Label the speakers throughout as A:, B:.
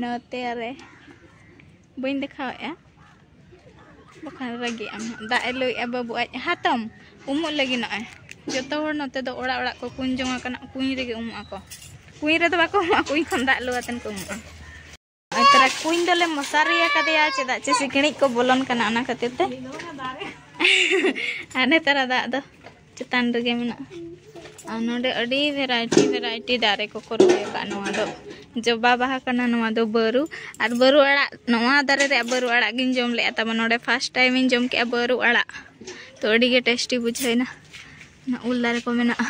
A: ᱱᱚᱛᱮ ᱨᱮ ᱵᱟᱹᱧ ᱫᱮᱠᱷᱟᱣᱮᱫᱼᱟ ᱵᱟᱠᱷᱟᱱ ᱨᱟᱹᱜᱤᱜ ᱟᱢ ᱫᱟᱜ ᱮ ᱞᱩᱭᱮᱫᱼᱟ ᱵᱟᱹᱵᱩ ᱟᱡ ᱦᱟᱛᱚᱢ ᱩᱢᱩᱜ ᱞᱟᱹᱜᱤᱫ ᱱᱚᱜᱼᱚᱭ ᱡᱚᱛᱚ ᱦᱚᱲ ᱱᱚᱛᱮ ᱫᱚ ᱚᱲᱟᱜ ᱚᱲᱟᱜ ᱠᱚ ᱠᱩᱧ ᱡᱚᱝ ᱟᱠᱟᱱᱟ ᱠᱩᱧ ᱨᱮᱜᱮ ᱩᱢᱩᱜ ᱟᱠᱚ ᱠᱩᱧ ᱨᱮᱫᱚ ᱵᱟᱠᱚ ᱩᱢᱩᱜᱼᱟ ᱠᱩᱧ ᱠᱷᱚᱱ ᱫᱟᱜ ᱞᱩ ᱟᱛᱮᱱ ᱠᱚ ᱩᱢᱩᱜᱼᱟ ᱛᱟᱨᱟ ᱠᱩᱧ ᱫᱚᱞᱮ ᱢᱚᱥᱟᱨᱤ ᱟᱠᱟᱫᱮᱭᱟ ᱪᱮᱫᱟᱜ ᱪᱮ ᱥᱤᱠᱬᱤᱡ ᱠᱚ ᱵᱚᱞᱚᱱ ᱠᱟᱱᱟ ᱚᱱᱟ ᱠᱷᱟᱹᱛᱤᱨ ᱛᱮ ᱟᱨ ᱱᱮᱛᱟᱨᱟ ᱫᱟᱜ ᱫᱚ ᱪᱮᱛᱟᱱ ᱨᱮᱜᱮ ᱢᱮᱱᱟᱜᱼᱟ ᱟᱨ ᱱᱚᱰᱮ ᱟᱹᱰᱤ ᱵᱷᱮᱨᱟᱭᱴᱤ ᱵᱷᱮᱨᱟᱭᱴᱤ ᱫᱟᱨᱮ ᱠᱚᱠᱚ ᱨᱚᱦᱚᱭ ᱟᱠᱟᱫ ᱱᱚᱣᱟ ᱫᱚ ᱡᱚᱵᱟ ᱵᱟᱦᱟ ᱠᱟᱱᱟ ᱱᱚᱣᱟ ᱫᱚ ᱵᱟᱹᱨᱩ ᱟᱨ ᱵᱟᱹᱨᱩ ᱟᱲᱟᱜ ᱱᱚᱣᱟ ᱫᱟᱨᱮ ᱨᱮᱭᱟᱜ ᱵᱟᱹᱨᱩ ᱟᱲᱟᱜ ᱜᱤᱧ ᱡᱚᱢ ᱞᱮᱫᱼᱟ ᱛᱟᱵᱚᱱ ᱱᱚᱰᱮ ᱯᱷᱟᱥᱴ ᱴᱟᱭᱤᱢ ᱤᱧ ᱡᱚᱢ ᱠᱮᱫᱼᱟ ᱵᱟᱹᱨᱩ ᱟᱲᱟᱜ ᱛᱚ ᱟᱹᱰᱤ ᱜᱮ ᱴᱮᱥᱴᱤ ᱵᱩᱡᱷᱟᱹᱣᱮᱱᱟ ᱚᱱᱟ ᱩᱞ ᱫᱟᱨᱮ ᱠᱚ ᱢᱮᱱᱟᱜᱼᱟ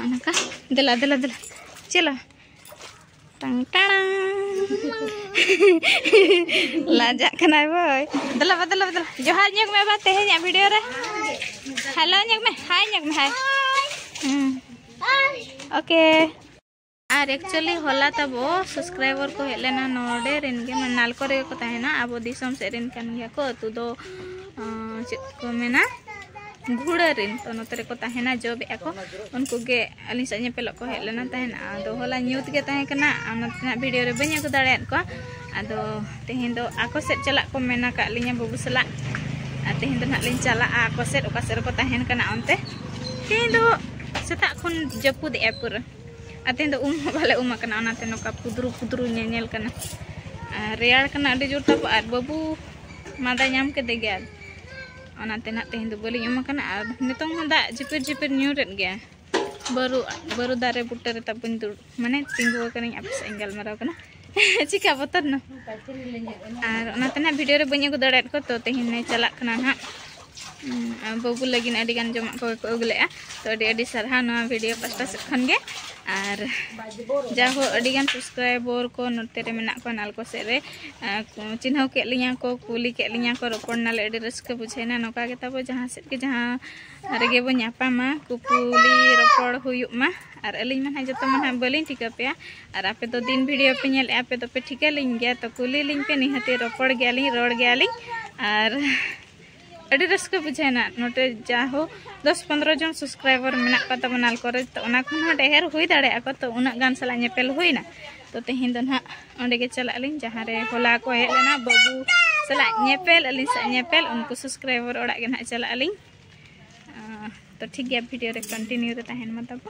A: ᱚᱱᱠᱟ ᱫᱮᱞᱟ ᱫᱮᱞᱟ ᱫᱮᱞᱟ ᱪᱮᱞᱟ ᱞᱟᱡᱟᱜ ᱠᱟᱱᱟᱭ ᱵᱳᱭ ᱫᱮᱞᱟ ᱵᱟ ᱫᱮᱞᱟ ᱫᱮᱞᱟ ᱡᱚᱦᱟᱨ ᱧᱚᱜ ᱢᱮ ᱵᱟ ᱛᱮᱦᱮᱧᱟᱜ ᱵᱷᱤᱰᱤᱭᱳ ᱨᱮ ᱦᱮᱞᱳ ᱧᱚᱜ ᱢᱮ ᱦᱟᱭ ᱧᱚᱜ ᱢᱮ ᱦᱟᱭ ᱳᱠᱮ ᱟᱨ ᱮᱠᱪᱩᱭᱟᱞᱤ ᱦᱚᱞᱟ ᱛᱟᱵᱚ ᱥᱟᱵᱥᱠᱨᱟᱭᱵᱟᱨ ᱠᱚ ᱦᱮᱡ ᱞᱮᱱᱟ ᱱᱚᱰᱮ ᱨᱮᱱ ᱜᱮ ᱢᱟᱱᱮ ᱱᱟᱞᱠᱚ ᱨᱮᱜᱮ ᱠᱚ ᱛᱟᱦᱮᱱᱟ ᱟᱵᱚ ᱫᱤᱥᱚᱢ ᱥᱮᱫ ᱨᱮᱱ ᱠᱟᱱ ᱜᱮᱭᱟ ᱠᱚ ᱟᱹᱛᱩ ᱫᱚ ᱪᱮᱫ ᱠᱚ ᱢᱮᱱᱟ ᱜᱷᱩᱲᱟᱹ ᱨᱮᱱ ᱛᱚ ᱱᱚᱛᱮ ᱨᱮᱠᱚ ᱛᱟᱦᱮᱱᱟ ᱡᱚᱵᱮᱜᱼᱟ ᱠᱚ ᱩᱱᱠᱩ ᱜᱮ ᱟᱹᱞᱤᱧ ᱥᱟᱶ ᱧᱮᱯᱮᱞᱚᱜ ᱠᱚ ᱦᱮᱡ ᱞᱮᱱᱟ ᱛᱟᱦᱮᱱ ᱟᱫᱚ ᱦᱚᱞᱟ ᱧᱩᱛ ᱜᱮ ᱛᱟᱦᱮᱸ ᱠᱟᱱᱟ ᱚᱱᱟᱛᱮ ᱱᱟᱜ ᱵᱷᱤᱰᱤᱭᱳ ᱨᱮ ᱵᱟᱹᱧ ᱟᱹᱜᱩ ᱫᱟᱲᱮᱭᱟᱫ ᱠᱚᱣᱟ ᱟᱫᱚ ᱛᱮᱦᱮᱧ ᱫᱚ ᱟᱠᱚ ᱥᱮᱫ ᱪᱟᱞᱟᱜ ᱠᱚ ᱢᱮᱱ ᱟᱠᱟᱫ ᱞᱤᱧᱟ ᱵᱟᱹᱵᱩ ᱥᱟᱞᱟᱜ ᱟᱨ ᱛᱮᱦᱮᱧ ᱫᱚ ᱱᱟᱜ ᱞᱤᱧ ᱪᱟᱞᱟᱜᱼᱟ ᱟᱠᱚ ᱥᱮᱫ ᱚᱠᱟ ᱥᱮᱫ ᱨᱮᱠᱚ ᱛᱟᱦᱮᱱ ᱠᱟᱱᱟ ᱚᱱᱛᱮ ᱛᱮᱦᱮᱧ ᱫᱚ ᱥᱮᱛᱟᱜ ᱠᱷᱚᱱ ᱡᱟᱹᱯᱩᱫ ᱮᱜᱼᱟ ᱯᱩᱨᱟᱹ ᱟᱨ ᱛᱮᱦᱮᱧ ᱫᱚ ᱩᱢ ᱦᱚᱸ ᱵᱟᱞᱮ ᱩᱢ ᱟᱠᱟᱱᱟ ᱚᱱᱟᱛᱮ ᱱᱚᱝᱠᱟ ᱯᱩᱫᱨᱩ ᱯᱩᱫᱨᱩ ᱧᱮᱧᱮᱞ ᱠᱟᱱᱟ ᱟᱨ ᱨᱮᱭᱟᱲ ᱠᱟᱱᱟ ᱟᱹᱰᱤ ᱡᱳᱨ ᱛᱟᱵᱚ ᱟᱨ ᱵᱟᱹᱵᱩ ᱢᱟᱫᱟ ᱧᱟᱢ ᱠᱮᱫᱮ ᱜᱮᱭᱟ ᱚᱱᱟᱛᱮ ᱱᱟᱜ ᱛᱮᱦᱮᱧ ᱫᱚ ᱵᱟᱹᱞᱤᱧ ᱮᱢ ᱟᱠᱟᱱᱟ ᱟᱨ ᱱᱤᱛᱚᱝ ᱦᱚᱸ ᱫᱟᱜ ᱡᱷᱤᱯᱤᱨ ᱡᱷᱤᱯᱤᱨ ᱧᱩᱨᱮᱫ ᱜᱮᱭᱟ ᱵᱟᱹᱨᱩ ᱵᱟᱹᱨᱩ ᱫᱟᱨᱮ ᱵᱩᱴᱟᱹ ᱨᱮ ᱛᱟᱵᱚᱧ ᱫᱩᱲᱩᱵ ᱢᱟᱱᱮ ᱛᱤᱸᱜᱩ ᱟᱠᱟᱱᱟᱹᱧ ᱟᱯᱮ ᱥᱟᱶ ᱤᱧ ᱜᱟᱞᱢᱟᱨᱟᱣ ᱠᱟᱱᱟ ᱪᱤᱠᱟ ᱵᱚᱛᱚᱨ ᱱᱟ ᱟᱨ ᱚᱱᱟᱛᱮ ᱱᱟᱜ ᱵᱷᱤᱰᱤᱭᱳ ᱨᱮ ᱵᱟᱹᱧ ᱟᱹᱜᱩ ᱫᱟᱲᱮᱭᱟᱫ ᱠᱚᱣᱟ ᱛᱚ ᱛᱮᱦᱮᱧ ᱞᱮ ᱪᱟᱞᱟᱜ ᱠᱟᱱᱟ ᱱᱟᱜ ᱵᱟᱹᱵᱩ ᱞᱟᱹᱜᱤᱫ ᱟᱹᱰᱤ ᱜᱟᱱ ᱡᱚᱢᱟᱜ ᱠᱚᱜᱮ ᱠᱚ ᱟᱹᱜᱩ ᱞᱮᱫᱼᱟ ᱛᱚ ᱟᱹᱰᱤ ᱟᱹᱰᱤ ᱥᱟᱨᱦᱟᱣ ᱱᱚᱣᱟ ᱵᱷᱤᱰᱤᱭᱳ ᱯᱟᱥᱴᱟ ᱥᱮᱫ ᱠᱷᱚᱱ ᱜᱮ ᱟᱨ ᱡᱟᱦᱳ ᱟᱹᱰᱤ ᱜᱟᱱ ᱥᱟᱵᱥᱠᱨᱟᱭᱵᱚᱨ ᱠᱚ ᱱᱚᱛᱮ ᱨᱮ ᱢᱮᱱᱟᱜ ᱠᱚᱣᱟ ᱱᱟᱞᱠᱳ ᱥᱮᱫ ᱨᱮ ᱪᱤᱱᱦᱟᱹᱣ ᱠᱮᱫ ᱞᱤᱧᱟ ᱠᱚ ᱠᱩᱞᱤ ᱠᱮᱫ ᱞᱤᱧᱟ ᱠᱚ ᱨᱚᱯᱚᱲ ᱱᱟᱞᱮ ᱟᱹᱰᱤ ᱨᱟᱹᱥᱠᱟᱹ ᱵᱩᱡᱷᱟᱹᱣᱱᱟ ᱱᱚᱝᱠᱟ ᱜᱮ ᱛᱟᱵᱚ ᱡᱟᱦᱟᱸ ᱥᱮᱫ ᱜᱮ ᱡᱟᱦᱟᱸ ᱨᱮᱜᱮ ᱵᱚ ᱧᱟᱯᱟᱢᱟ ᱠᱩᱯᱩᱞᱤ ᱨᱚᱯᱚᱲ ᱦᱩᱭᱩᱜ ᱢᱟ ᱟᱨ ᱟᱹᱞᱤᱧ ᱢᱟ ᱱᱟᱦᱟᱜ ᱡᱚᱛᱚ ᱢᱟ ᱱᱟᱦᱟᱜ ᱵᱟᱹᱞᱤᱧ ᱴᱷᱤᱠᱟᱹ ᱯᱮᱭᱟ ᱟᱨ ᱟᱯᱮ ᱫᱚ ᱫᱤᱱ ᱵᱷᱤᱰᱤᱭᱳ ᱯᱮ ᱧᱮᱞᱮᱫᱼᱟ ᱟᱯᱮ ᱫᱚᱯᱮ ᱴᱷᱤᱠᱟᱹ ᱞᱤᱧ ᱜᱮᱭᱟ ᱛᱚ ᱠᱩᱞᱤ ᱞᱤᱧ ᱯᱮ ᱱᱤᱦᱟᱹᱛ ᱨᱚᱯᱚᱲ ᱜᱮᱭᱟᱞᱤᱧ ᱨᱚᱲ ᱜᱮᱭᱟᱞᱤᱧ ᱟᱨ ᱟᱹᱰᱤ ᱨᱟᱹᱥᱠᱟᱹ ᱵᱩᱡᱷᱟᱹᱣᱱᱟ ᱱᱚᱛᱮ ᱡᱟᱦᱳ ᱫᱚᱥ ᱯᱚᱱᱨᱚ ᱡᱚᱱ ᱥᱟᱵᱥᱠᱨᱟᱭᱵᱟᱨ ᱢᱮᱱᱟᱜ ᱠᱚ ᱛᱟᱵᱚᱱᱟ ᱠᱚᱨᱮ ᱛᱚ ᱚᱱᱟ ᱠᱷᱚᱱ ᱦᱚᱸ ᱰᱷᱮᱨ ᱦᱩᱭ ᱫᱟᱲᱮᱭᱟᱜᱼᱟ ᱠᱚ ᱛᱚ ᱩᱱᱟᱹᱜ ᱜᱟᱱ ᱥᱟᱞᱟᱜ ᱧᱮᱯᱮᱞ ᱦᱩᱭᱱᱟ ᱛᱚ ᱛᱮᱦᱮᱧ ᱫᱚ ᱱᱟᱦᱟᱜ ᱚᱸᱰᱮ ᱜᱮ ᱪᱟᱞᱟᱜ ᱟᱹᱞᱤᱧ ᱡᱟᱦᱟᱸ ᱨᱮ ᱦᱚᱞᱟ ᱠᱚ ᱦᱮᱡ ᱞᱮᱱᱟ ᱵᱟᱹᱵᱩ ᱥᱟᱞᱟᱜ ᱧᱮᱯᱮᱞ ᱟᱹᱞᱤᱧ ᱥᱟᱞᱟᱜ ᱧᱮᱯᱮᱞ ᱩᱱᱠᱩ ᱥᱟᱵᱥᱠᱨᱟᱭᱵᱟᱨ ᱚᱲᱟᱜ ᱜᱮ ᱱᱟᱦᱟᱜ ᱪᱟᱞᱟᱜ ᱟᱹᱞᱤᱧ ᱛᱚ ᱴᱷᱤᱠ ᱜᱮᱭᱟ ᱵᱷᱤᱰᱤᱭᱳ ᱨᱮ ᱠᱚᱱᱴᱤᱱᱤᱭᱩ ᱨᱮ ᱛᱟᱦᱮᱱ ᱢᱟ ᱛᱟᱵᱚ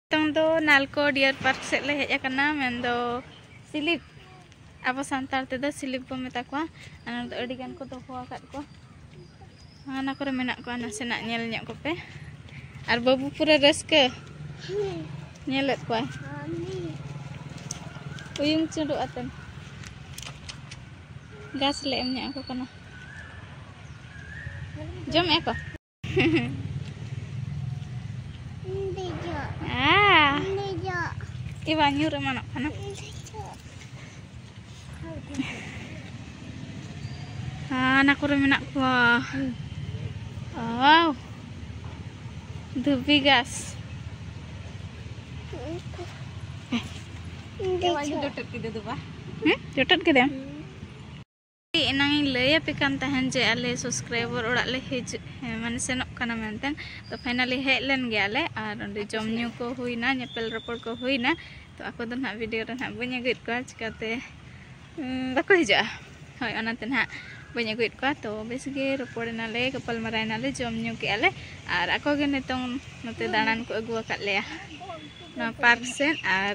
A: ᱱᱤᱛᱚᱝ ᱫᱚ ᱱᱟᱞᱠᱚ ᱰᱤᱭᱟᱨ ᱯᱟᱨᱠ ᱥᱮᱫ ᱞᱮ ᱦᱮᱡ ᱟᱠᱟᱱᱟ ᱢᱮᱱᱫᱚ ᱥᱤᱞᱤᱯ ᱟᱵᱚ ᱥᱟᱱᱛᱟᱲ ᱛᱮᱫᱚ ᱥᱤᱞᱤᱯ ᱵᱚ ᱢᱮᱛᱟ ᱠᱚᱣᱟ ᱚᱱᱟ ᱫᱚ ᱟᱹᱰᱤ ᱜᱟᱱ ᱠᱚ ᱫᱚᱦᱚ ᱟᱠᱟᱫ ᱠᱚᱣᱟ ᱚᱱᱟ ᱠᱚᱨᱮ ᱢᱮᱱᱟᱜ ᱠᱚᱣᱟ ᱱᱟᱥᱮᱱᱟᱜ ᱧᱮᱞ ᱧᱚᱜ ᱠᱚᱯᱮ ᱟᱨ ᱵᱟᱹᱵᱩ ᱯᱩᱨᱟᱹ ᱨᱟᱹᱥᱠᱟᱹ ᱧᱮᱞᱮᱫ ᱠᱚᱣᱟᱭ ᱩᱭᱩᱝ ᱪᱩᱸᱰᱩᱜ ᱟᱛᱮᱱ ᱜᱷᱟᱥ ᱞᱮ ᱮᱢ ᱧᱚᱜ ᱟᱠᱚ ᱠᱟᱱᱟ ᱡᱚᱢᱮᱫᱼᱟ ᱠᱚ ᱵᱟᱝ ᱧᱩᱨ ᱮᱢᱟᱱᱚᱜ ᱠᱟᱱᱟ ᱦᱟᱱᱟ ᱠᱚᱨᱮ ᱢᱮᱱᱟᱜ ᱠᱚᱣᱟ ᱟᱣ ᱫᱷᱩᱵᱤ ᱜᱟᱥ ᱡᱚᱴᱮᱫ ᱠᱮᱫᱮᱢ ᱮᱱᱟᱝ ᱤᱧ ᱞᱟᱹᱭ ᱟᱯᱮ ᱠᱟᱱ ᱛᱟᱦᱮᱱ ᱡᱮ ᱟᱞᱮ ᱥᱟᱵᱥᱠᱨᱟᱭᱵᱟᱨ ᱚᱲᱟᱜ ᱞᱮ ᱦᱤᱡᱩᱜ ᱢᱟᱱᱮ ᱥᱮᱱᱚᱜ ᱠᱟᱱᱟ ᱢᱮᱱᱛᱮ ᱛᱚ ᱯᱷᱟᱭᱱᱟᱞᱤ ᱦᱮᱡ ᱞᱮᱱ ᱜᱮᱭᱟᱞᱮ ᱟᱨ ᱚᱸᱰᱮ ᱡᱚᱢ ᱧᱩ ᱠᱚ ᱦᱩᱭᱱᱟ ᱧᱮᱯᱮᱞ ᱨᱚᱯᱚᱲ ᱠᱚ ᱦᱩᱭᱱᱟ ᱛᱚ ᱟᱠᱚ ᱫᱚ ᱱᱟᱦᱟᱜ ᱵᱷᱤᱰᱤᱭᱳ ᱨᱮ ᱱᱟᱦᱟᱜ ᱵᱟᱹᱧ ᱟᱹᱜᱩᱭᱮᱫ ᱠᱚᱣᱟ ᱪᱤᱠᱟᱹᱛᱮ ᱵᱟᱠᱚ ᱦᱤᱡᱩᱜᱼᱟ ᱦᱳᱭ ᱚᱱᱟᱛᱮ ᱱᱟᱦᱟᱜ ᱵᱟᱹᱧ ᱟᱹᱜᱩᱭᱮᱫ ᱠᱚᱣᱟ ᱛᱚ ᱵᱮᱥ ᱜᱮ ᱨᱚᱯᱚᱲ ᱮᱱᱟᱞᱮ ᱜᱟᱯᱟᱞ ᱢᱟᱨᱟᱣ ᱮᱱᱟᱞᱮ ᱡᱚᱢ ᱧᱩ ᱠᱮᱜᱼᱟ ᱞᱮ ᱟᱨ ᱟᱠᱚ ᱜᱮ ᱱᱤᱛᱚᱝ ᱱᱚᱛᱮ ᱫᱟᱬᱟᱱ ᱠᱚ ᱟᱹᱜᱩ ᱟᱠᱟᱫ ᱞᱮᱭᱟ ᱱᱚᱣᱟ ᱯᱟᱨᱠ ᱥᱮᱫ ᱟᱨ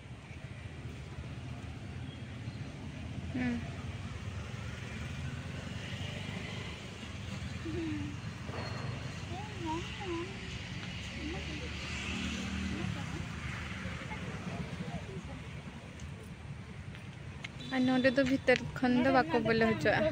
B: ᱟᱨ ᱱᱚᱰᱮ ᱫᱚ ᱵᱷᱤᱛᱟᱹᱨ ᱠᱷᱚᱱ ᱫᱚ ᱵᱟᱠᱚ ᱵᱚᱞᱚ ᱦᱚᱪᱚᱣᱟᱜᱼᱟ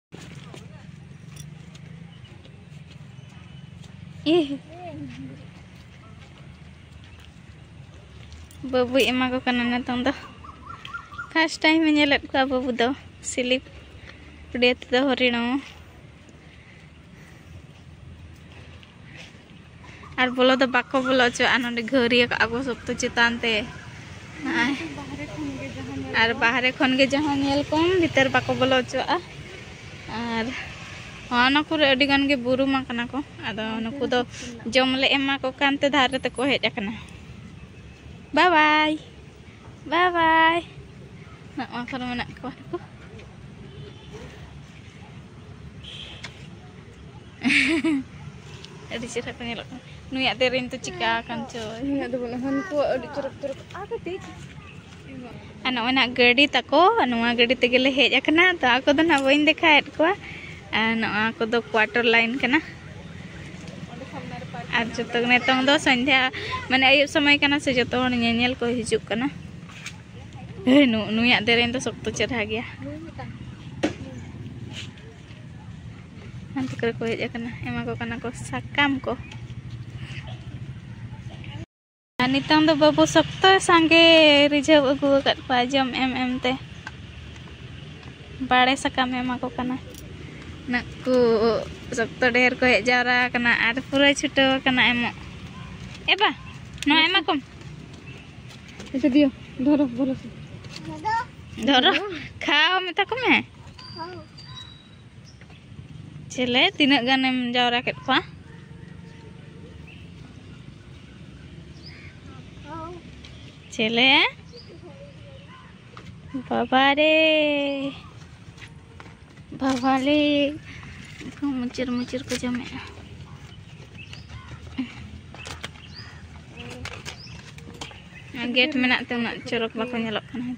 A: ᱵᱟᱹᱵᱩᱭ ᱮᱢᱟ ᱠᱚ ᱠᱟᱱᱟ ᱱᱤᱛᱚᱝ ᱫᱚ ᱯᱷᱟᱥᱴ ᱴᱟᱭᱤᱢ ᱮ ᱧᱮᱞᱮᱫ ᱠᱚᱣᱟ ᱵᱟᱹᱵᱩ ᱫᱚ ᱥᱤᱞᱤᱯ ᱩᱰᱤᱭᱟ ᱛᱮᱫᱚ ᱦᱚᱨᱤᱬᱚ ᱟᱨ ᱵᱚᱞᱚ ᱫᱚ ᱵᱟᱠᱚ ᱵᱚᱞᱚ ᱚᱪᱚᱣᱟᱜᱼᱟ ᱱᱚᱰᱮ ᱜᱷᱟᱹᱣᱨᱤᱭᱟᱹ ᱠᱟᱜᱼᱟ ᱠᱚ ᱥᱚᱠᱛᱚ ᱪᱮᱛᱟᱱ ᱛᱮ ᱱᱚᱜᱼᱚᱭ ᱟᱨ ᱵᱟᱦᱨᱮ ᱠᱷᱚᱱ ᱜᱮ ᱡᱟᱦᱟᱸ ᱧᱮᱞ ᱠᱚᱢ ᱵᱷᱤᱛᱟᱹᱨ ᱵᱟᱠᱚ ᱵᱚᱞᱚ ᱚᱪᱚᱣᱟᱜᱼᱟ ᱟᱨ ᱚᱱᱟ ᱠᱚᱨᱮ ᱟᱹᱰᱤ ᱜᱟᱱ ᱜᱮ ᱵᱩᱨᱩᱢ ᱟᱠᱟᱱᱟ ᱠᱚ ᱟᱫᱚ ᱱᱩᱠᱩ ᱫᱚ ᱡᱚᱢ ᱞᱮ ᱮᱢᱟ ᱠᱚ ᱠᱟᱱ ᱛᱮ ᱫᱷᱟᱨᱮ ᱛᱮᱠᱚ ᱦᱮᱡ ᱟᱠᱟᱱᱟ ᱵᱟᱭ ᱵᱟᱭ ᱵᱟᱭ ᱵᱟᱭ ᱱᱚᱣᱟ ᱠᱚᱨᱮ ᱢᱮᱱᱟᱜ ᱠᱚᱣᱟ ᱱᱩᱠᱩ ᱟᱹᱰᱤ ᱪᱮᱦᱨᱟ
B: ᱠᱚ ᱧᱮᱞᱚᱜ
A: ᱠᱟᱱᱟ ᱱᱩᱭᱟᱜ ᱫᱮᱨᱮᱧ ᱫᱚ ᱪᱤᱠᱟ ᱟᱠᱟᱱ ᱪᱚ ᱱᱩᱭᱟᱜ ᱫᱚ ᱵᱟᱹᱱᱩᱜᱼᱟ ᱱᱩᱠᱩ ᱟᱹᱰᱤ ᱪᱚᱨᱚᱠ ᱪᱚᱨᱚᱠ ᱟᱨ ᱠᱟᱹᱴᱤᱡ ᱟᱨ ᱱᱚᱜᱼᱚᱭ ᱱᱟᱜ ᱜᱟᱹᱰᱤ ᱛᱟᱠᱚ ᱱᱚᱣᱟ ᱜᱟᱹᱰᱤ ᱛᱮᱜᱮ ᱞᱮ ᱦᱮᱡ ᱟᱠᱟᱱᱟ ᱛᱚ ᱟᱠᱚ ᱫᱚ ᱱᱟᱜ ᱵᱟᱹᱧ ᱫᱮᱠᱷᱟᱣᱮᱫ ᱠᱚᱣᱟ ᱟᱨ ᱱᱚᱣᱟ ᱠᱚᱫᱚ ᱠᱣᱟᱴᱟᱨ ᱞᱟᱭᱤᱱ ᱠᱟᱱᱟ ᱟᱨ ᱡᱚᱛᱚ ᱱᱤᱛᱚᱝ ᱫᱚ ᱥᱚᱱᱫᱷᱟ ᱢᱟᱱᱮ ᱟᱹᱭᱩᱵ ᱥᱚᱢᱚᱭ ᱠᱟᱱᱟ ᱥᱮ ᱡᱚᱛᱚ ᱦᱚᱲ ᱧᱮᱧᱮᱞ ᱠᱚ ᱦᱤᱡᱩᱜ ᱠᱟᱱᱟ ᱱᱩᱭᱟᱜ ᱫᱮᱨᱮᱧ ᱫᱚ ᱥᱚᱠᱛᱚ ᱪᱮᱨᱦᱟ ᱜᱮᱭᱟ ᱦᱟᱱᱛᱮ ᱠᱚᱨᱮ ᱠᱚ ᱦᱮᱡ ᱟᱠᱟᱱᱟ ᱮᱢᱟ ᱠᱚ ᱠᱟᱱᱟ ᱠᱚ ᱥᱟᱠᱟᱢ ᱠᱚ ᱟᱨ ᱱᱤᱛᱚᱝ ᱫᱚ ᱵᱟᱹᱵᱩ ᱥᱚᱠᱛᱚ ᱥᱟᱸᱜᱮ ᱨᱤᱡᱷᱟᱹᱣ ᱟᱹᱜᱩ ᱟᱠᱟᱫ ᱠᱚᱣᱟ ᱡᱚᱢ ᱮᱢ ᱮᱢ ᱛᱮ ᱵᱟᱲᱮ ᱥᱟᱠᱟᱢ ᱮᱢᱟ ᱠᱚ ᱠᱟᱱᱟ ᱱᱟᱜ ᱠᱚ ᱥᱚᱠᱛᱚ ᱰᱷᱮᱨ ᱠᱚ ᱦᱮᱡ ᱡᱟᱣᱨᱟ ᱟᱠᱟᱱᱟ ᱟᱨ ᱯᱩᱨᱟᱹ ᱪᱷᱩᱴᱟᱹᱣ ᱟᱠᱟᱱᱟ ᱮᱢᱚᱜ ᱮ ᱵᱟ ᱱᱚᱣᱟ ᱮᱢᱟ ᱠᱚᱢ
B: ᱫᱷᱚᱨᱚ
A: ᱫᱷᱚᱨᱚ ᱠᱷᱟᱣᱟ ᱢᱮᱛᱟ ᱠᱚᱢᱮ ᱪᱮᱞᱮ ᱛᱤᱱᱟᱹᱜ ᱜᱟᱱᱮᱢ ᱡᱟᱣᱨᱟ ᱠᱮᱫ ᱠᱚᱣᱟ ᱪᱮᱞᱮ ᱵᱟᱵᱟ ᱨᱮ ᱵᱟᱵᱟ ᱨᱮ ᱠᱚ ᱢᱩᱪᱤᱨ ᱢᱩᱪᱤᱨ ᱠᱚ ᱡᱚᱢᱮᱜᱼᱟ ᱜᱮᱴ ᱢᱮᱱᱟᱜ ᱛᱮ ᱩᱱᱟᱹᱜ ᱪᱚᱨᱚᱠ ᱵᱟᱠᱚ ᱧᱮᱞᱚᱜ ᱠᱟᱱᱟ ᱦᱮᱸ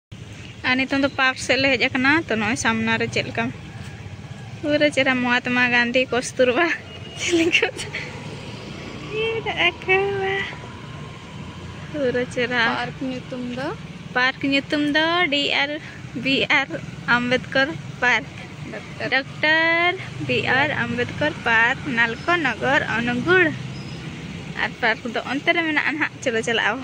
A: ᱟᱨ ᱱᱤᱛᱚᱝ ᱫᱚ ᱯᱟᱨᱠ ᱥᱮᱫ ᱞᱮ ᱦᱮᱡ ᱟᱠᱟᱱᱟ ᱛᱚ ᱱᱚᱜᱼᱚᱭ ᱥᱟᱢᱱᱟ ᱨᱮ ᱪᱮᱫ ᱞᱮᱠᱟ ᱯᱩᱨᱟᱹ ᱪᱮᱦᱨᱟ ᱢᱚᱦᱟᱛᱢᱟ ᱜᱟᱱᱫᱷᱤ ᱠᱚᱥᱛᱩᱨᱵᱟ ᱪᱮᱫ ᱞᱮᱠᱟ ᱯᱩᱨᱟᱹ ᱪᱮᱦᱨᱟ ᱯᱟᱨᱠ ᱧᱩᱛᱩᱢ ᱫᱚ ᱯᱟᱨᱠ ᱧᱩᱛᱩᱢ ᱫᱚ D R B R Ambedkar park doctor B R Ambedkar park ᱱᱟᱞᱠᱚ ᱱᱚᱜᱚᱨ ᱚᱱᱩᱜᱩᱲ ᱟᱨ ᱯᱟᱨᱠ ᱫᱚ ᱚᱱᱛᱮ ᱨᱮ ᱢᱮᱱᱟᱜᱼᱟ ᱱᱟᱦᱟᱜ ᱪᱚᱞᱚ ᱪᱟᱞᱟᱜ ᱟᱵᱚ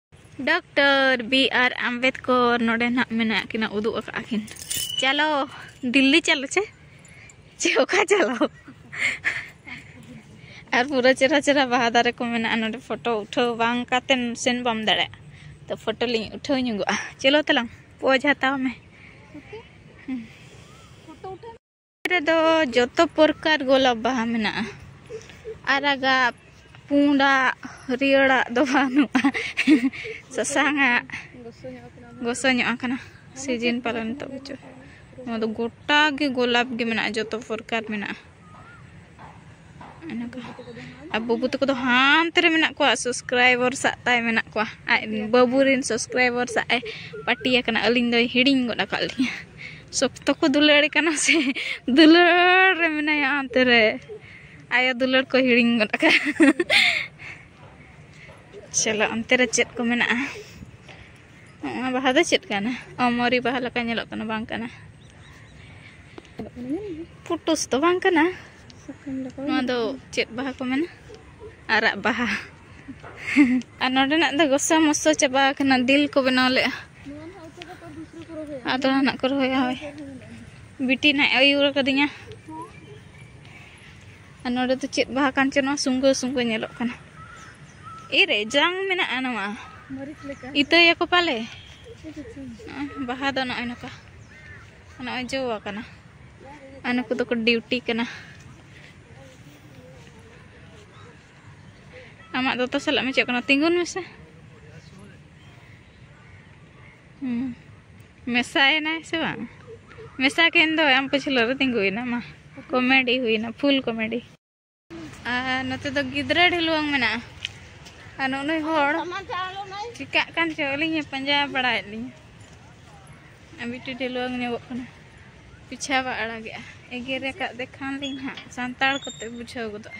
A: ᱰᱚᱠᱴᱚᱨ ᱵᱤ ᱟᱨ ᱟᱢᱵᱮᱫᱠᱚᱨ ᱱᱚᱰᱮ ᱱᱟᱜ ᱢᱮᱱᱟᱜ ᱠᱤᱱᱟ ᱩᱫᱩᱜ ᱟᱠᱟᱫ ᱠᱤᱱ ᱪᱟᱞᱚ ᱫᱤᱞᱞᱤ ᱪᱟᱞᱚ ᱪᱮ ᱪᱮ ᱚᱠᱟ ᱪᱟᱞᱚ ᱟᱨ ᱯᱩᱨᱟᱹ ᱪᱮᱦᱨᱟ ᱪᱮᱦᱨᱟ ᱵᱟᱦᱟ ᱫᱟᱨᱮ ᱠᱚ ᱢᱮᱱᱟᱜᱼᱟ ᱱᱚᱰᱮ ᱯᱷᱳᱴᱳ ᱩᱴᱷᱟᱹᱣ ᱵᱟᱝ ᱠᱟᱛᱮᱢ ᱥᱮᱱ ᱵᱟᱢ ᱫᱟᱲᱮᱭᱟᱜᱼᱟ ᱛᱚ ᱯᱷᱳᱴᱳ ᱞᱤᱧ ᱩᱴᱷᱟᱹᱣ ᱧᱚᱜᱚᱜᱼᱟ ᱪᱚᱞᱚ ᱛᱟᱞᱟᱝ ᱯᱚᱡᱽ ᱦᱟᱛᱟᱣ ᱢᱮ
B: ᱨᱮᱫᱚ
A: ᱡᱚᱛᱚ ᱯᱨᱚᱠᱟᱨ ᱜᱳᱞᱟᱯ ᱵᱟᱦᱟ ᱢᱮᱱᱟᱜᱼᱟ ᱟᱨᱟᱜᱟᱜ ᱯᱩᱸᱰᱟᱜ ᱦᱟᱹᱨᱭᱟᱹᱲᱟᱜ ᱫᱚ ᱵᱟᱹᱱᱩᱜᱼᱟ ᱥᱟᱥᱟᱝᱟᱜ ᱜᱚᱥᱚ ᱧᱚᱜ ᱟᱠᱟᱱᱟ ᱥᱤᱡᱤᱱ ᱯᱟᱞᱚᱱ ᱱᱤᱛᱚᱜ ᱵᱚᱪᱷᱚᱨ ᱱᱚᱣᱟ ᱫᱚ ᱜᱚᱴᱟ ᱜᱮ ᱜᱳᱞᱟᱯ ᱜᱮ ᱢᱮᱱᱟᱜᱼᱟ ᱡᱚᱛᱚ ᱯᱨᱚᱠᱟᱨ ᱢᱮᱱᱟᱜᱼᱟ ᱟᱨ ᱵᱟᱹᱵᱩ ᱛᱟᱠᱚ ᱫᱚ ᱦᱟᱱᱛᱮ ᱨᱮ ᱢᱮᱱᱟᱜ ᱠᱚᱣᱟ ᱥᱟᱵᱥᱠᱨᱟᱭᱵᱟᱨ ᱥᱟᱜ ᱛᱟᱭ ᱢᱮᱱᱟᱜ ᱠᱚᱣᱟ ᱟᱡ ᱵᱟᱹᱵᱩ ᱨᱮᱱ ᱥᱟᱵᱥᱠᱨᱟᱭᱵᱟᱨ ᱥᱟᱜ ᱮ ᱯᱟᱴᱤ ᱟᱠᱟᱱᱟ ᱟᱹᱞᱤᱧ ᱫᱚᱭ ᱦᱤᱲᱤᱧ ᱜᱚᱫ ᱟᱠᱟᱫ ᱞᱤᱧᱟ ᱥᱚᱠᱛᱚ ᱠᱚ ᱫᱩᱞᱟᱹᱲ ᱠᱟᱱᱟ ᱥᱮ ᱫᱩᱞᱟᱹᱲ ᱨᱮ ᱢᱮᱱᱟᱭᱟ ᱦᱟᱱᱛᱮ ᱨᱮ ᱟᱭᱳ ᱫᱩᱞᱟᱹᱲ ᱠᱚ ᱦᱤᱲᱤᱧ ᱜᱚᱫ ᱟᱠᱟᱫ ᱪᱚᱞᱚ ᱚᱱᱛᱮ ᱨᱮ ᱪᱮᱫ ᱠᱚ ᱢᱮᱱᱟᱜᱼᱟ ᱱᱚᱣᱟ ᱵᱟᱦᱟ ᱫᱚ ᱪᱮᱫ ᱠᱟᱱᱟ ᱚᱢᱚᱨᱤ ᱵᱟᱦᱟ ᱞᱮᱠᱟ ᱧᱮᱞᱚᱜ ᱠᱟᱱᱟ ᱵᱟᱝ ᱠᱟᱱᱟ ᱯᱩᱴᱩᱥ ᱫᱚ ᱵᱟᱝ ᱠᱟᱱᱟ ᱱᱚᱣᱟ ᱫᱚ ᱪᱮᱫ ᱵᱟᱦᱟ ᱠᱚ ᱢᱮᱱᱟ ᱟᱨᱟᱜ ᱵᱟᱦᱟ ᱟᱨ ᱱᱚᱰᱮᱱᱟᱜ ᱫᱚ ᱜᱚᱥᱟ ᱢᱚᱥᱟ ᱪᱟᱵᱟ ᱟᱠᱟᱱᱟ ᱫᱤᱞ ᱠᱚ ᱵᱮᱱᱟᱣ ᱞᱮᱜᱼᱟ ᱟᱫᱚ ᱱᱟᱜ ᱠᱚ ᱨᱚᱦᱚᱭᱟ ᱦᱳᱭ ᱵᱤᱴᱤ ᱱᱟᱜ ᱟᱹᱭᱩᱨ ᱟᱠᱟᱫᱤᱧᱟ ᱟᱨ ᱱᱚᱰᱮ ᱫᱚ ᱪᱮᱫ ᱵᱟᱦᱟ ᱠᱟᱱ ᱪᱚ ᱱᱚᱣᱟ ᱥᱩᱝᱜᱟᱹ ᱥᱩᱝᱜᱟᱹ ᱧᱮᱞᱚᱜ ᱠᱟᱱᱟ ᱮᱨᱮ ᱡᱟᱝ ᱢᱮᱱᱟᱜᱼᱟ ᱱᱚᱣᱟ
B: ᱤᱛᱟᱹᱭᱟᱠᱚ ᱯᱟᱞᱮ
A: ᱵᱟᱦᱟ ᱫᱚ ᱱᱚᱜᱼᱚᱭ ᱱᱚᱝᱠᱟ ᱱᱚᱜᱼᱚᱭ ᱡᱚ ᱟᱠᱟᱱᱟ ᱟᱨ ᱱᱩᱠᱩ ᱫᱚᱠᱚ ᱰᱤᱣᱴᱤ ᱠᱟᱱᱟ ᱟᱢᱟᱜ ᱫᱚᱛᱚ ᱥᱟᱞᱟᱜ ᱢᱮᱪᱚᱜ ᱠᱟᱱᱟ ᱛᱤᱸᱜᱩᱱ ᱢᱮᱥᱮ ᱢᱮᱥᱟᱭᱮᱱᱟᱭ ᱥᱮ ᱵᱟᱝ ᱢᱮᱥᱟ ᱠᱮᱱ ᱫᱚ ᱟᱢ ᱯᱟᱹᱪᱷᱞᱟᱹ ᱨᱮ ᱛᱤᱸᱜᱩᱭᱮᱱᱟ ᱢᱟ ᱠᱚᱢᱮᱰᱤ ᱦᱩᱭᱱᱟ ᱯᱷᱩᱞ ᱠᱚᱢᱮᱰᱤ ᱟᱨ ᱱᱚᱛᱮ ᱫᱚ ᱜᱤᱫᱽᱨᱟᱹ ᱰᱷᱤᱞᱣᱟᱹᱝ ᱢᱮᱱᱟᱜᱼᱟ ᱟᱨ ᱱᱩᱱᱩᱭ ᱦᱚᱲ ᱪᱤᱠᱟᱜ ᱠᱟᱱ ᱪᱚ ᱟᱹᱞᱤᱧ ᱯᱟᱸᱡᱟ ᱵᱟᱲᱟᱭᱮᱫ ᱞᱤᱧ ᱟᱨ ᱢᱤᱫᱴᱤᱡ ᱰᱷᱤᱞᱣᱟᱹᱝ ᱧᱚᱜᱚᱜ ᱠᱟᱱᱟ ᱯᱤᱪᱷᱟ ᱵᱟ ᱟᱲᱟᱜᱮᱜᱼᱟ ᱮᱜᱮᱨ ᱟᱠᱟᱫ ᱫᱮᱠᱷᱟᱱ ᱞᱤᱧ ᱦᱟᱸᱜ ᱥᱟᱱᱛᱟᱲ ᱠᱚᱛᱮ ᱵᱩᱡᱷᱟᱹᱣ ᱜᱚᱫᱚᱜᱼᱟ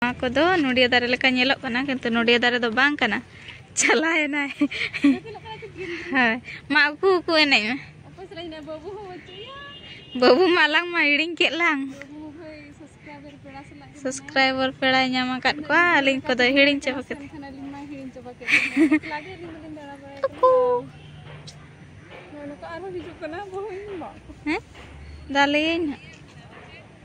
A: ᱱᱚᱣᱟ ᱠᱚᱫᱚ ᱱᱚᱰᱤᱭᱟ ᱫᱟᱨᱮ ᱞᱮᱠᱟ ᱧᱮᱞᱚᱜ ᱠᱟᱱᱟ ᱠᱤᱱᱛᱩ ᱱᱚᱰᱤᱭᱟ ᱫᱟᱨᱮ ᱫᱚ ᱵᱟᱝ ᱠᱟᱱᱟ ᱪᱟᱞᱟᱣᱮᱱᱟᱭ ᱦᱳᱭ ᱢᱟ ᱩᱠᱩ ᱩᱠᱩ ᱮᱱᱮᱡ ᱢᱮ
B: ᱵᱟᱹᱵᱩ ᱢᱟ
A: ᱟᱞᱟᱝ ᱢᱟ ᱦᱤᱲᱤᱧ ᱠᱮᱫ ᱞᱟᱝ
B: ᱥᱟᱵᱥᱠᱨᱟᱭᱵᱟᱨ ᱯᱮᱲᱟᱭ
A: ᱧᱟᱢ ᱟᱠᱟᱫ ᱠᱚᱣᱟ ᱟᱹᱞᱤᱧ ᱠᱚᱫᱚ ᱦᱤᱲᱤᱧ ᱪᱟᱵᱟ ᱠᱮᱫ
B: ᱩᱠᱩ ᱦᱮᱸ
A: ᱫᱟᱞᱮᱭᱟᱹᱧ ᱦᱟᱸᱜ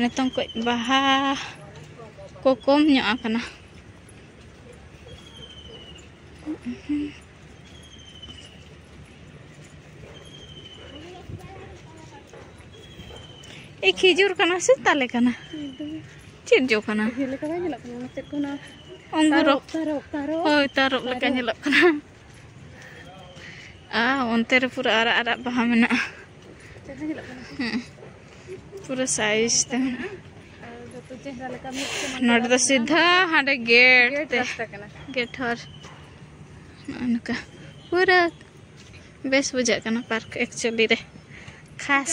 A: ᱱᱤᱛᱚᱝ ᱠᱚ ᱵᱟᱦᱟ ᱠᱚ ᱠᱚᱢ ᱧᱚᱜ ᱟᱠᱟᱱᱟ ᱮ ᱠᱷᱤᱡᱩᱨ ᱠᱟᱱᱟ ᱥᱮ ᱛᱟᱞᱮ ᱠᱟᱱᱟ ᱪᱮᱫ ᱡᱚ ᱠᱟᱱᱟ
B: ᱚᱝᱜᱩᱨ ᱦᱳᱭ ᱛᱟᱨᱚᱵ ᱞᱮᱠᱟ
A: ᱧᱮᱞᱚᱜ ᱠᱟᱱᱟ ᱟᱨ ᱚᱱᱛᱮ ᱨᱮ ᱯᱩᱨᱟᱹ ᱟᱨᱟᱜ ᱟᱨᱟᱜ ᱵᱟᱦᱟ ᱢᱮᱱᱟᱜᱼᱟ ᱯᱩᱨᱟᱹ ᱥᱟᱭᱤᱡᱽ ᱛᱮ
B: ᱱᱚᱰᱮ ᱫᱚ ᱥᱤᱫᱷᱟ
A: ᱦᱟᱸᱰᱮ ᱜᱮᱴ ᱛᱮ ᱜᱮᱴ
B: ᱦᱚᱨ
A: ᱱᱚᱜᱼᱚ ᱱᱚᱝᱠᱟ ᱯᱩᱨᱟᱹ ᱵᱮᱥ ᱵᱩᱡᱷᱟᱹᱜ ᱠᱟᱱᱟ ᱯᱟᱨᱠ ᱮᱠᱪᱩᱭᱮᱞᱤ ᱨᱮ ᱠᱷᱟᱥ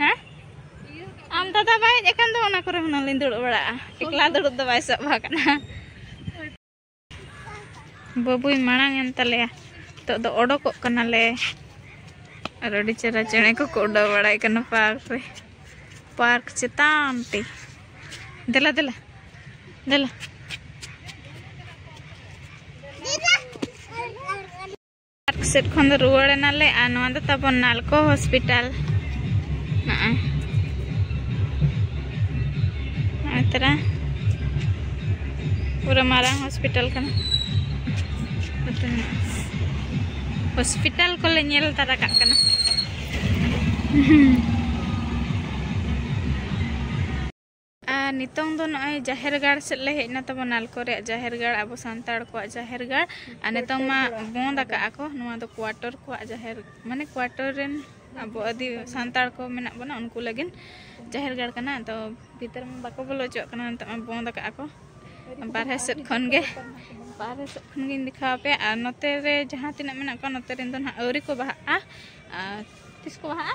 A: ᱦᱮᱸ ᱟᱢ ᱫᱟᱫᱟ ᱵᱟᱭ ᱦᱮᱡ ᱟᱠᱟᱱ ᱫᱚ ᱚᱱᱟ ᱠᱚᱨᱮ ᱦᱩᱱᱟᱹᱝ ᱞᱤᱧ ᱫᱩᱲᱩᱵ ᱵᱟᱲᱟᱜᱼᱟ ᱮᱠᱞᱟ ᱫᱩᱲᱩᱵ ᱫᱚ ᱵᱟᱭ ᱥᱟᱵ ᱟᱠᱟᱱᱟ ᱵᱟᱹᱵᱩᱭ ᱢᱟᱲᱟᱝ ᱮᱱ ᱛᱟᱞᱮᱭᱟ ᱱᱤᱛᱚᱜ ᱫᱚ ᱚᱰᱚᱠᱚᱜ ᱠᱟᱱᱟᱞᱮ ᱟᱨ ᱟᱹᱰᱤ ᱪᱮᱦᱨᱟ ᱪᱮᱬᱮ ᱠᱚᱠᱚ ᱩᱰᱟᱹᱣ ᱵᱟᱲᱟᱭ ᱠᱟᱱᱟ ᱯᱟᱨᱠ ᱨᱮ ᱯᱟᱨᱠ ᱪᱮᱛᱟᱱ ᱛᱮ ᱫᱮᱞᱟ ᱫᱮᱞᱟ ᱫᱮᱞᱟ ᱯᱟᱨᱠ ᱥᱮᱫ ᱠᱷᱚᱱ ᱫᱚ ᱨᱩᱣᱟᱹᱲ ᱮᱱᱟᱞᱮ ᱟᱨ ᱱᱚᱣᱟ ᱫᱚ ᱛᱟᱵᱚᱱ ᱱᱟᱞᱠᱚ ᱦᱚᱥᱯᱤᱴᱟᱞ ᱱᱚᱜᱼᱚᱭ ᱱᱚᱜᱼᱚᱭ ᱛᱟᱨᱟ ᱯᱩᱨᱟᱹ ᱢᱟᱨᱟᱝ ᱦᱚᱥᱯᱤᱴᱟᱞ ᱠᱟᱱᱟ ᱦᱚᱥᱯᱤᱴᱟᱞ ᱠᱚᱞᱮ ᱧᱮᱞ ᱛᱟᱨᱟ ᱠᱟᱜ ᱠᱟᱱᱟ ᱟᱨ ᱱᱤᱛᱚᱝ ᱫᱚ ᱱᱚᱜᱼᱚᱭ ᱡᱟᱦᱮᱨ ᱜᱟᱲ ᱥᱮᱫ ᱞᱮ ᱦᱮᱡ ᱮᱱᱟ ᱛᱟᱵᱚᱱ ᱱᱟᱞᱠᱚ ᱨᱮᱭᱟᱜ ᱡᱟᱦᱮᱨ ᱜᱟᱲ ᱟᱵᱚ ᱥᱟᱱᱛᱟᱲ ᱠᱚᱣᱟᱜ ᱡᱟᱦᱮᱨ ᱜᱟᱲ ᱟᱨ ᱱᱤᱛᱚᱝ ᱢᱟ ᱵᱚᱸᱫ ᱟᱠᱟᱜᱼᱟ ᱠᱚ ᱱᱚᱣᱟ ᱫᱚ ᱠᱣᱟᱴᱚᱨ ᱠᱚᱣᱟᱜ ᱡᱟᱦᱮᱨ ᱢᱟᱱᱮ ᱠᱣᱟᱴᱚᱨ ᱨᱮᱱ ᱟᱵᱚ ᱟᱹᱫᱤ ᱥᱟᱱᱛᱟᱲ ᱠᱚ ᱢᱮᱱᱟᱜ ᱵᱚᱱᱟ ᱩᱱᱠᱩ ᱞᱟᱹᱜᱤᱫ ᱡᱟᱦᱮᱨ ᱜᱟᱲ ᱠᱟᱱᱟ ᱟᱫᱚ ᱵᱷᱤᱛᱟᱹᱨ ᱢᱟ ᱵᱟᱠᱚ ᱵᱚᱞᱚ ᱦᱚᱪᱚᱣᱟᱜ ᱠᱟᱱᱟ ᱱᱤᱛᱚᱜ ᱢᱟ ᱵᱚᱸᱫ ᱟᱠᱟᱜᱼᱟ ᱠᱚ ᱵᱟᱨᱦᱮ ᱥᱮᱫ ᱠᱷᱚᱱ ᱜᱮ ᱵᱟᱨᱦᱮ ᱥᱮᱫ ᱠᱷᱚᱱ ᱜᱤᱧ ᱫᱮᱠᱷᱟᱣ ᱟᱯᱮᱭᱟ ᱟᱨ ᱱᱚᱛᱮ ᱨᱮ ᱡᱟᱦᱟᱸ ᱛᱤᱱᱟᱹᱜ ᱢᱮᱱᱟᱜ ᱠᱚᱣᱟ ᱱᱚᱛᱮ ᱨᱮᱱ ᱫᱚ ᱱᱟᱦᱟᱜ ᱟᱹᱣᱨᱤ ᱠᱚ ᱵᱟᱦᱟᱜᱼᱟ ᱟᱨ ᱛᱤᱥ ᱠᱚ ᱵᱟᱦᱟᱜᱼᱟ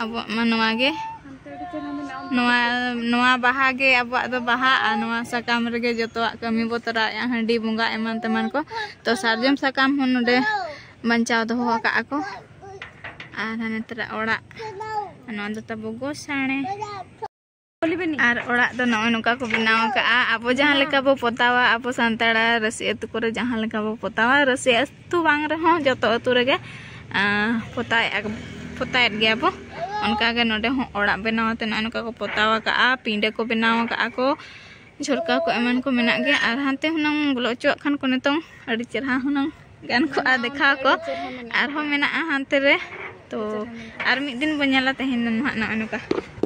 A: ᱟᱵᱚᱣᱟᱜ ᱢᱟ ᱱᱚᱣᱟ ᱜᱮ ᱱᱚᱣᱟ ᱱᱚᱣᱟ ᱵᱟᱦᱟ ᱜᱮ ᱟᱵᱚᱣᱟᱜ ᱫᱚ ᱵᱟᱦᱟ ᱟᱨ ᱱᱚᱣᱟ ᱥᱟᱠᱟᱢ ᱨᱮᱜᱮ ᱡᱚᱛᱚᱣᱟᱜ ᱠᱟᱹᱢᱤ ᱵᱚ ᱛᱚᱨᱟᱣᱮᱜᱼᱟ ᱦᱟᱺᱰᱤ ᱵᱚᱸᱜᱟ ᱮᱢᱟᱱ ᱛᱮᱢᱟᱱ ᱠᱚ ᱛᱚ ᱥᱟᱨᱡᱚᱢ ᱥᱟᱠᱟᱢ ᱦᱚᱸ ᱱᱚᱰᱮ ᱵᱟᱧᱪᱟᱣ ᱫᱚᱦᱚ ᱟᱠᱟᱜ ᱟᱠᱚ ᱟᱨ ᱦᱟᱱᱮ ᱛᱟᱨᱟ ᱚᱲᱟᱜ ᱱᱚᱣᱟ ᱫᱚ ᱛᱟᱵᱚ ᱜᱚᱥᱟᱬᱮ ᱟᱨ ᱚᱲᱟᱜ ᱫᱚ ᱱᱚᱜᱼᱚᱭ ᱱᱚᱝᱠᱟ ᱠᱚ ᱵᱮᱱᱟᱣ ᱟᱠᱟᱫᱼᱟ ᱟᱵᱚ ᱡᱟᱦᱟᱸ ᱞᱮᱠᱟ ᱵᱚ ᱯᱚᱛᱟᱣᱟ ᱟᱵᱚ ᱥᱟᱱᱛᱟᱲᱟ ᱨᱟᱹᱥᱤ ᱟᱹᱛᱩ ᱠᱚᱨᱮ ᱡᱟᱦᱟᱸ ᱞᱮᱠᱟ ᱵᱚ ᱯᱚᱛᱟᱣᱟ ᱨᱟᱹᱥᱤ ᱟᱹᱛᱩ ᱵᱟᱝ ᱨᱮᱦᱚᱸ ᱡᱚᱛᱚ ᱟᱹᱛᱩ ᱨᱮᱜᱮ ᱯᱚᱛᱟᱣᱮᱫ ᱯᱚᱛᱟᱣᱮᱫ ᱜᱮᱭᱟ ᱵᱚ ᱚᱱᱠᱟᱜᱮ ᱱᱚᱰᱮ ᱦᱚᱸ ᱚᱲᱟᱜ ᱵᱮᱱᱟᱣ ᱠᱟᱛᱮ ᱱᱚᱜᱼᱚᱭ ᱱᱚᱝᱠᱟ ᱠᱚ ᱯᱚᱛᱟᱣ ᱟᱠᱟᱫᱼᱟ ᱯᱤᱸᱰᱟᱹ ᱠᱚ ᱵᱮᱱᱟᱣ ᱟᱠᱟᱫᱼᱟ ᱠᱚ ᱡᱷᱚᱨᱠᱟ ᱠᱚ ᱮᱢᱟᱱ ᱠᱚ ᱢᱮᱱᱟᱜ ᱜᱮᱭᱟ ᱟᱨ ᱦᱟᱱᱛᱮ ᱦᱩᱱᱟᱹᱝ ᱵᱚᱞᱚ ᱦᱚᱪᱚᱣᱟᱜ ᱠᱷᱟᱱ ᱠᱚ ᱱᱤᱛᱚᱝ ᱟᱹᱰᱤ ᱪᱮᱨᱦᱟ ᱦᱩᱱᱟᱹᱝ ᱜᱟᱱ ᱠᱚᱜᱼᱟ ᱫᱮᱠᱷᱟᱣ ᱠᱚ ᱟᱨᱦᱚᱸ ᱢᱮᱱᱟᱜᱼᱟ ᱦᱟᱱᱛᱮ ᱨᱮ ᱛᱚ ᱟᱨ ᱢᱤᱫ ᱫᱤᱱ ᱵᱚᱱ ᱧᱮᱞᱟ ᱛᱮᱦᱮᱧ ᱫᱚ ᱱᱟᱦᱟᱜ ᱱᱚᱜᱼᱚᱭ ᱱᱚᱝᱠᱟ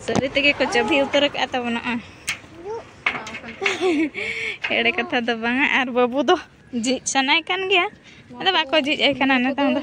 A: ᱥᱟᱹᱨᱤ ᱛᱮᱜᱮ ᱠᱚ ᱪᱟᱹᱵᱷᱤ ᱩᱛᱟᱹᱨ ᱟᱠᱟᱫᱼᱟ ᱛᱟᱵᱚᱱᱟ ᱮᱲᱮ ᱠᱟᱛᱷᱟ ᱫᱚ ᱵᱟᱝᱟ ᱟᱨ ᱵᱟᱹᱵᱩ ᱫᱚ ᱡᱷᱤᱡ ᱥᱟᱱᱟᱭ ᱠᱟᱱ ᱜᱮᱭᱟ ᱟᱫᱚ ᱵᱟᱠᱚ ᱡᱷᱤᱡ ᱟᱭ ᱠᱟᱱᱟ ᱱᱤᱛᱚᱝ ᱫᱚ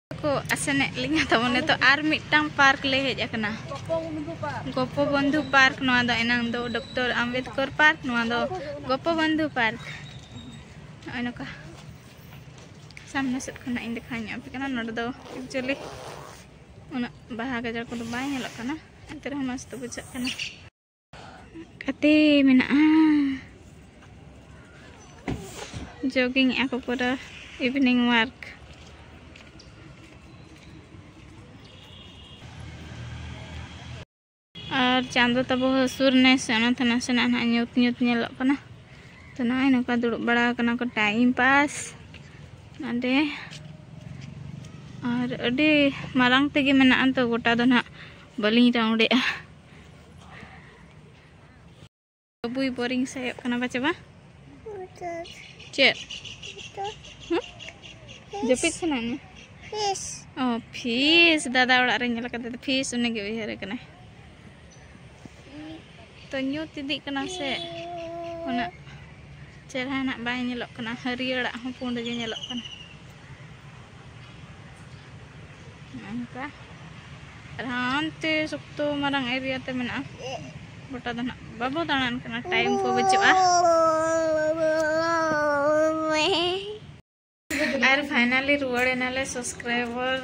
A: ᱠᱚ ᱟᱥᱮᱱᱮᱫ ᱞᱤᱧᱟ ᱛᱟᱵᱚ ᱱᱤᱛᱚᱜ ᱟᱨ ᱢᱤᱫᱴᱟᱝ ᱯᱟᱨᱠ ᱞᱮ ᱦᱮᱡ ᱟᱠᱟᱱᱟ ᱜᱚᱯᱚ ᱵᱚᱱᱫᱷᱩ ᱯᱟᱨᱠ ᱱᱚᱣᱟ ᱫᱚ ᱮᱱᱟᱝ ᱫᱚ ᱰᱚᱠᱴᱚᱨ ᱟᱢᱵᱮᱫᱠᱚᱨ ᱯᱟᱨᱠ ᱱᱚᱣᱟ ᱫᱚ ᱜᱚᱯᱚ ᱵᱚᱱᱫᱷᱩ ᱯᱟᱨᱠ ᱱᱚᱜᱼᱚᱭ ᱱᱚᱝᱠᱟ ᱥᱟᱢᱱᱮ ᱥᱮᱫ ᱠᱷᱚᱱᱟᱜ ᱤᱧ ᱫᱮᱠᱷᱟᱣ ᱧᱚᱜ ᱟᱯᱮ ᱠᱟᱱᱟ ᱱᱚᱰᱮ ᱫᱚ ᱮᱠᱪᱩᱭᱮᱞᱤ ᱩᱱᱟᱹᱜ ᱵᱟᱦᱟ ᱜᱟᱡᱟᱲ ᱠᱚᱫᱚ ᱵᱟᱭ ᱧᱮᱞᱚᱜ ᱠᱟᱱᱟ ᱮᱱᱛᱮ ᱨᱮᱦᱚᱸ ᱢᱚᱡᱽ ᱫᱚ ᱵᱩᱡᱷᱟᱹᱜ ᱠᱟᱱᱟ ᱠᱟᱛᱮ ᱢᱮᱱᱟᱜᱼᱟ ᱡᱚᱜᱤᱝ ᱟᱠᱚ ᱯᱩᱨᱟᱹ ᱤᱵᱷᱤᱱᱤᱝ ᱣᱟᱨᱠ ᱟᱨ ᱪᱟᱸᱫᱚ ᱛᱟᱵᱚ ᱦᱟᱹᱥᱩᱨ ᱱᱮ ᱥᱮ ᱚᱱᱟᱛᱮ ᱱᱟᱥᱮᱱᱟᱜ ᱱᱟᱦᱟᱜ ᱧᱩᱛ ᱧᱩᱛ ᱧᱮᱞᱚᱜ ᱠᱟᱱᱟ ᱛᱚ ᱱᱚᱜᱼᱚᱭ ᱱᱚᱝᱠᱟ ᱫᱩᱲᱩᱵ ᱵᱟᱲᱟ ᱟᱠᱟᱱᱟ ᱠᱚ ᱴᱟᱭᱤᱢ ᱯᱟᱥ ᱱᱚᱰᱮ ᱟᱨ ᱟᱹᱰᱤ ᱢᱟᱨᱟᱝ ᱛᱮᱜᱮ ᱢᱮᱱᱟᱜᱼᱟ ᱛᱚ ᱜᱚᱴᱟ ᱫᱚ ᱱᱟᱦᱟᱜ ᱵᱟᱹᱞᱤᱧ ᱨᱟᱣᱩᱱᱰᱮᱜᱼᱟ ᱵᱩᱭ ᱵᱳᱨᱤᱝ ᱥᱟᱭᱚᱜ ᱠᱟᱱᱟ ᱵᱟᱪᱮ ᱵᱟ ᱪᱮᱫ ᱡᱟᱹᱯᱤᱫ ᱥᱟᱱᱟ ᱢᱮ ᱯᱷᱤᱥ ᱚ ᱯᱷᱤᱥ ᱫᱟᱫᱟ ᱚᱲᱟᱜ ᱨᱮ ᱧᱮᱞ ᱠᱟᱛᱮ ᱯᱷᱤᱥ ᱩᱱᱤ ᱜᱮ ᱩᱭᱦᱟᱹᱨ ᱠᱟᱱᱟᱭ ᱛᱚ ᱧᱩᱛ ᱤᱫᱤᱜ ᱠᱟᱱᱟ ᱥᱮ ᱚᱱᱟ ᱪᱮᱦᱨᱟ ᱱᱟᱜ ᱵᱟᱭ ᱧᱮᱞᱚᱜ ᱠᱟᱱᱟ ᱦᱟᱹᱨᱭᱟᱹᱲᱟᱜ ᱦᱚᱸ ᱯᱩᱸᱰ ᱜᱮ ᱧᱮᱞᱚᱜ ᱠᱟᱱᱟ ᱚᱱᱠᱟ ᱟᱨ ᱦᱟᱱᱛᱮ ᱥᱚᱠᱛᱚ ᱢᱟᱨᱟᱝ ᱮᱨᱤᱭᱟ ᱛᱮ ᱢᱮᱱᱟᱜᱼᱟ ᱜᱚᱴᱟ ᱫᱚ ᱱᱟᱜ ᱵᱟᱵᱚ ᱫᱟᱬᱟᱱ ᱠᱟᱱᱟ ᱴᱟᱭᱤᱢ ᱠᱚ ᱵᱟᱹᱪᱩᱜᱼᱟ ᱟᱨ ᱯᱷᱟᱭᱱᱟᱞᱤ ᱨᱩᱣᱟᱹᱲ ᱮᱱᱟᱞᱮ ᱥᱟᱵᱥᱠᱨᱟᱭᱵᱟᱨ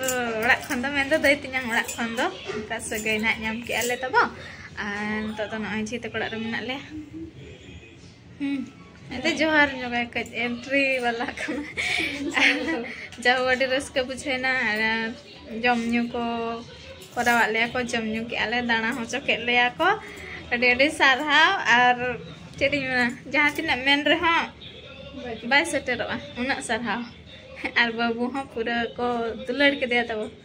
A: ᱚᱲᱟᱜ ᱠᱷᱚᱱ ᱫᱚ ᱢᱮᱱᱫᱚ ᱫᱟᱹᱭ ᱛᱤᱧᱟᱝ ᱚᱲᱟᱜ ᱠᱷᱚᱱ ᱫᱚ ᱚᱱᱠᱟ ᱥᱟᱹᱜᱟᱹᱭ ᱱᱟᱜ ᱧᱟᱢ ᱠᱮᱜᱼᱟ ᱞᱮ ᱛᱟᱵᱚ ᱟᱨ ᱱᱤᱛᱚᱜ ᱫᱚ ᱱᱚᱜᱼᱚᱭ ᱡᱷᱤ ᱛᱟᱠᱚ ᱚᱲᱟᱜ ᱨᱮ ᱢᱮᱱᱟᱜ ᱞᱮᱭᱟ ᱟᱫᱚ ᱡᱚᱦᱟᱨ ᱡᱚᱜᱟᱭ ᱠᱟᱹᱡ ᱮᱱᱴᱨᱤ ᱵᱟᱞᱟ ᱠᱟᱱᱟ ᱡᱟᱦᱳ ᱟᱹᱰᱤ ᱨᱟᱹᱥᱠᱟᱹ ᱵᱩᱡᱷᱟᱹᱣᱱᱟ ᱟᱨ ᱡᱚᱢ ᱧᱩ ᱠᱚ ᱠᱚᱨᱟᱣᱟᱫ ᱞᱮᱭᱟ ᱠᱚ ᱡᱚᱢ ᱧᱩ ᱠᱮᱜᱼᱟ ᱞᱮ ᱫᱟᱬᱟ ᱦᱚᱪᱚ ᱠᱮᱫ ᱞᱮᱭᱟ ᱠᱚ ᱟᱹᱰᱤ ᱟᱹᱰᱤ ᱥᱟᱨᱦᱟᱣ ᱟᱨ ᱪᱮᱫ ᱤᱧ ᱢᱮᱱᱟ ᱡᱟᱦᱟᱸ ᱛᱤᱱᱟᱹᱜ ᱢᱮᱱ ᱨᱮᱦᱚᱸ ᱵᱟᱭ ᱥᱮᱴᱮᱨᱚᱜᱼᱟ ᱩᱱᱟᱹᱜ ᱥᱟᱨᱦᱟᱣ ᱟᱨ ᱵᱟᱹᱵᱩ ᱦᱚᱸ ᱯᱩᱨᱟᱹ ᱠᱚ ᱫᱩᱞᱟᱹᱲ ᱠᱮᱫᱮᱭᱟ ᱛᱟᱵᱚ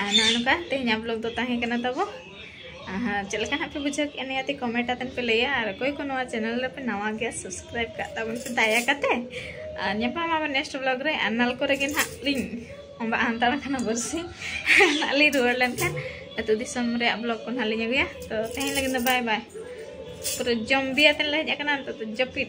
A: ᱟᱨ ᱱᱚᱜᱼᱚ ᱱᱚᱝᱠᱟ ᱛᱮᱦᱮᱧᱟᱜ ᱵᱞᱚᱜ ᱫᱚ ᱛᱟᱦᱮᱸ ᱠᱟᱱᱟ ᱛᱟᱵᱚ ᱟᱨ ᱪᱮᱫ ᱞᱮᱠᱟ ᱦᱟᱸᱜ ᱯᱮ ᱵᱩᱡᱷᱟᱹᱣ ᱠᱮᱫᱼᱟ ᱱᱤᱭᱟᱹᱛᱮ ᱠᱚᱢᱮᱱᱴ ᱟᱛᱮᱱ ᱯᱮ ᱞᱟᱹᱭᱟ ᱟᱨ ᱚᱠᱚᱭ ᱠᱚ ᱱᱚᱣᱟ ᱪᱮᱱᱮᱞ ᱨᱮᱯᱮ ᱱᱟᱣᱟ ᱜᱮᱭᱟ ᱥᱟᱵᱥᱠᱨᱟᱭᱤᱵ ᱠᱟᱜ ᱛᱟᱵᱚᱱ ᱯᱮ ᱫᱟᱭᱟ ᱠᱟᱛᱮ ᱟᱨ ᱧᱟᱯᱟᱢ ᱟᱵᱚᱱ ᱱᱮᱠᱥᱴ ᱵᱞᱚᱜ ᱨᱮ ᱟᱨ ᱱᱟᱞ ᱠᱚᱨᱮ ᱜᱮ ᱱᱟᱦᱟᱜ ᱞᱤᱧ ᱚᱸᱵᱟᱜ ᱦᱟᱱᱛᱟᱲ ᱠᱟᱱᱟ ᱵᱟᱹᱨᱥᱤ ᱱᱟᱦᱟᱜ ᱞᱤᱧ ᱨᱩᱣᱟᱹᱲ ᱞᱮᱱᱠᱷᱟᱱ ᱟᱹᱛᱩ ᱫᱤᱥᱚᱢ ᱨᱮᱭᱟᱜ ᱵᱞᱚᱜ ᱠᱚ ᱱᱟᱦᱟᱜ ᱞᱤᱧ ᱟᱹᱜᱩᱭᱟ ᱛᱚ ᱛᱮᱦᱮᱧ ᱞᱟᱹᱜᱤᱫ ᱫᱚ ᱵᱟᱭ ᱵᱟᱭ ᱯᱩᱨᱟᱹ ᱡᱚᱢ ᱵᱤᱭᱟᱛᱮᱱ ᱞᱮ ᱦᱮᱡ ᱟᱠᱟᱱᱟ ᱱᱤᱛᱚᱜ ᱫᱚ ᱡᱟᱹᱯᱤᱫ